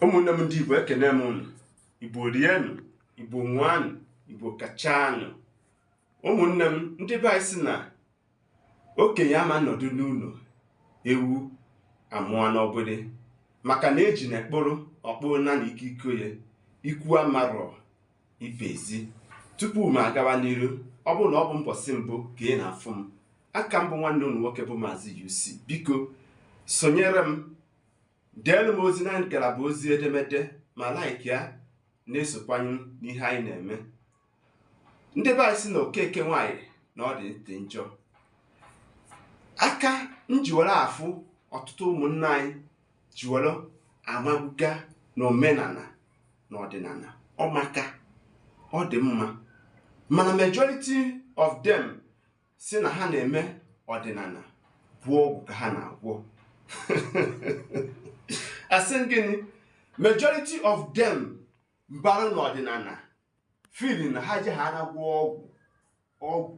ụmụnne m ndị igbo ekene m unu igbo rienụ igbo ṅụanụ igbo kachanụ ụmụnne m ndị be anyị sị na okenye ama nọdụ n'ụlọ ewu amụọ n'ọgbụrị maka na ejuna kpụrụ ọ kpụrụ na na ikiriko ya ikwu amarọ ibe ezi tupu m agawa n'iru ọ bụrụ na ọ bụ mbọsị mbụ ka ị na-afụ m aka m bụ nwanne unu nwoke bụ maazị UC biko sonyere m deelu m ozi na ngalaba ozi edemede ma like ya na-esokwanye n'ihe anyị na-eme ndị be anyị sị na okeke nwaanyị na ọ dị ntị njọ aka m ji were afụ ọtụtụ ụmụnna anyị ji were amabaga na omenala na ọdịnala ọ maka ọ dị mma mana majority of them sị na ha na-eme ọdịnala bụ ọgwụ ka ha na-agwọ asị gịnị majority of them bara n'ọdịnala feel na ha jee ha na-agwọ ọgwụ ọgwụ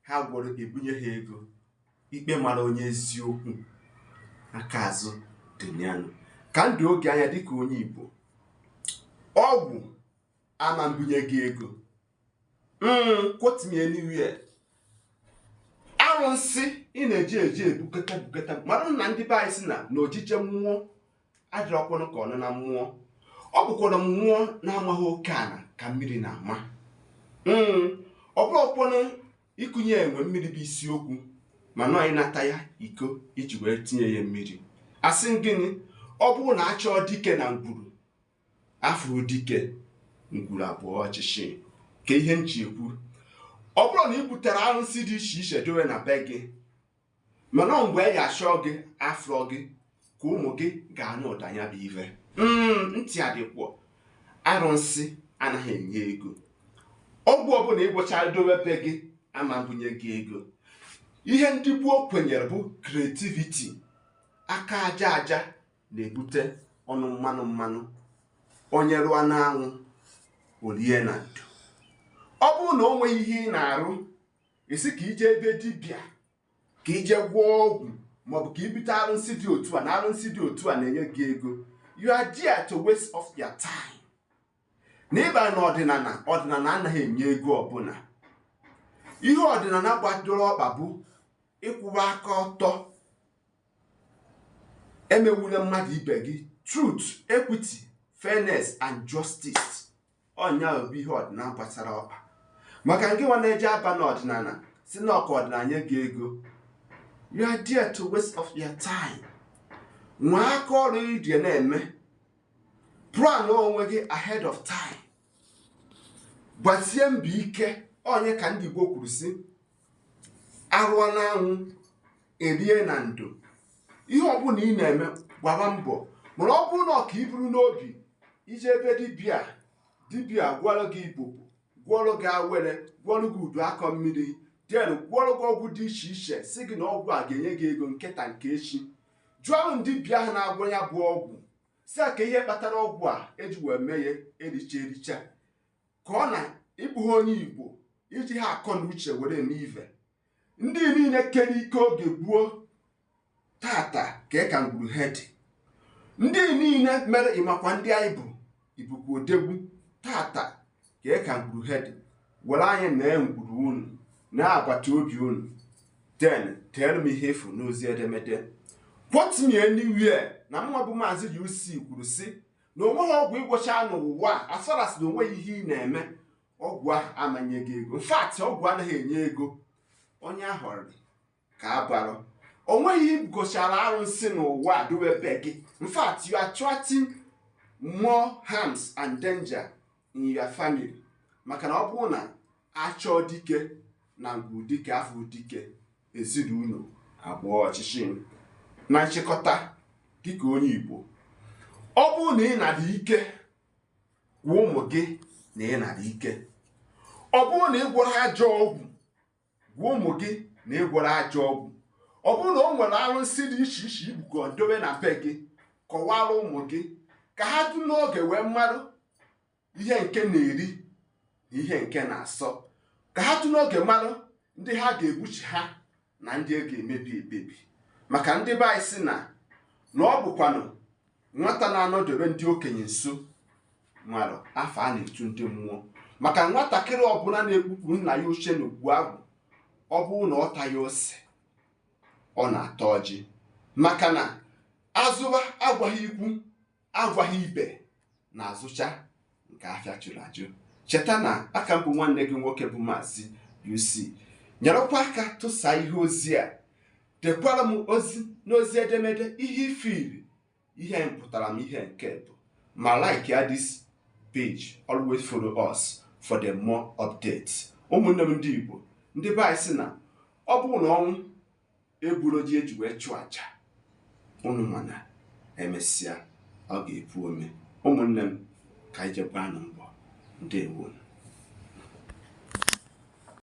ha gwọrọ ga-ebunye ha ego ikpe mara onye eziokwu aka azụ dị yanụ ka m doo gị anya dịka onye Igbo ọgwụ ama mbunye gị ego quote me anywhere arụsị ị na-eje eje ebukọta bukọta mara na ndị be anyị sị na na ojije mmụọ adịrọkwanụ ka ọnụna mmụọ ọ bụkwara mmụọ na-amaghị oke ala ka mmiri na-ama mm, ọ bụrọkwanụ ịkunye enwe mmiri bụ isiokwu mana ọ ịnata ya iko e ji wee tinye ya mmiri asị gịnị ọ bụrụ na a chọọ dike na ngwuru afụrọ dike ngwuru abụọ ọchịchị ka ihe m ji ekwu ọ bụrụ na ị butere arụsị dị iche iche dowe na be gị mana ọ mgbe a ga-achọ gị afụrọ gị ka ụmụ gị ga-anụ ụda ya bụ ive mm, ntị adịkwọ arụsị anaghị enye ego ọgwụ ọbụla ị gwọchara dowe be gị ama mbunye gị ego ihe ndị gboo kwenyere bụ creativity aka aja aja na-ebute ọnụ mmanụ mmanụ onye rụọ n'anwụ o rie na ndo ọ bụrụ na o nweghị ihe ị na-arụ ị sị ka i jee ebe dibịa ka i jee gwọọ ọgwụ maọbụ ka i bute arụsị dị otu a na arụsị dị otu a na-enye gị ego you are there to waste of your time na ịba na ọdịnala ọdịnala anaghị enye ego ọbụla ihe ọdịnala gbadoro ọkpa bụ ịkwụwa aka ọtọ emegbula mmadụ ibe gị truth equity fairness and justice ọ nya bụ ihe ọdịnala gbasara ọkpa maka ngị nwa na-eje aba n'ọdịnala si na ọ ka ọdịnala nye gị ego you are there to waste of your time nwee aka ọrụ ị ji na-eme plan onwe gị ahead of time gbasie mbọ ike onye ka ndị Igbo kwuru si arụọ n'anwụ erie na ndo ihe ọbụla ị na-eme gbaba mbọ mana ọ bụrụ na ọ ka i buru n'obi ije ebe dibịa dibịa gwọrọ gị ibobo gwọrọ gị awele gwọrọ gị udu akọ mmiri then gwọrọ gị ọgwụ dị iche iche si gị na ọgwụ a ga-enye gị ego nke taa nke echi jụọ dibịa ahụ na-agwọ ya bụ ọgwụ si ya kee ihe kpatara ọgwụ a eji wee mee ya richer richer ka ọ na ị bụghị onye igbo i jighị akọ na uche were eme ive ndị niile kere ike oge gboo taata kee ka ngwuru ha dị ndị niile mere ị makwa ndị anyị bụ ị bụkwa odogwu taata kee ka ngwuru ha dị were anya nee ngwuru unu na agbata obi unu then tell me ihe ị fụ n'ozi edemede quote me anywhere na mụwa bụ maazị UC kwuru sị na onweghị ọgwụ ị gwọcha n'ụwa a as far as na onweghị ihe ị na-eme ọgwụ ahụ ama nye gị ego in fact ọgwụ anaghị enye ego onye ahụ rịrị ka a bara onweghị ihe ị gochara arụsị n'ụwa a dowe be gị in fact you are attracting more harms and danger in your family maka na ọ bụrụ na achọọ dike na ngwu dike afụghị dike ezinụlọ abụọ ọchịchị na nchịkọta dịka onye Igbo ọ bụrụ na ị na-adị ike gwa ụmụ gị na ị na-adị ike ọ bụrụ na ị gwọrọ ajọ ọgwụ gwa ụmụ gị na ị gwọrọ ajọ ọgwụ ọ bụrụ na o nwere arụsị dị iche iche i bukọ dobe na be gị kọwara ụmụ gị ka ha tụ n'oge wee marụ ihe nke na-eri na ihe nke na-asọ ka ha tụ n'oge marụ ndị ha ga-egbochi ha na ndị a ga-emebi emebi maka ndị be anyị si na na ọ bụkwanụ nwata na-anọdebe ndị okenye nso marụ afa a na-etu ndị mmụọ maka nwatakịrị ọbụla na-ebupụ nna ya oche n'ogbu agwụ ọ bụrụ na ọ taghị ose ọ na-ata ọjị maka na azụba agwaghị ikwu agwaghị ibe na-azụcha nke afịa jụrụ ajụ cheta na a ka m bụ nwanne gị nwoke bụ maazị UC nyerekwa aka tụsa ihe ozi a dekwara m ozi n'ozi edemede ihe ifiri ihe mpụtara m ihe nke bụ ma like ya this page always follow us for the more updates ụmụnne m ndị Igbo ndị be anyị si na ọ bụrụ na ọnwụ egburo ji eji wee chụọ aja unu ma na emesịa ọ ga-epu ome ụmụnne m ka anyị jee gbaanụ mbọ ndewo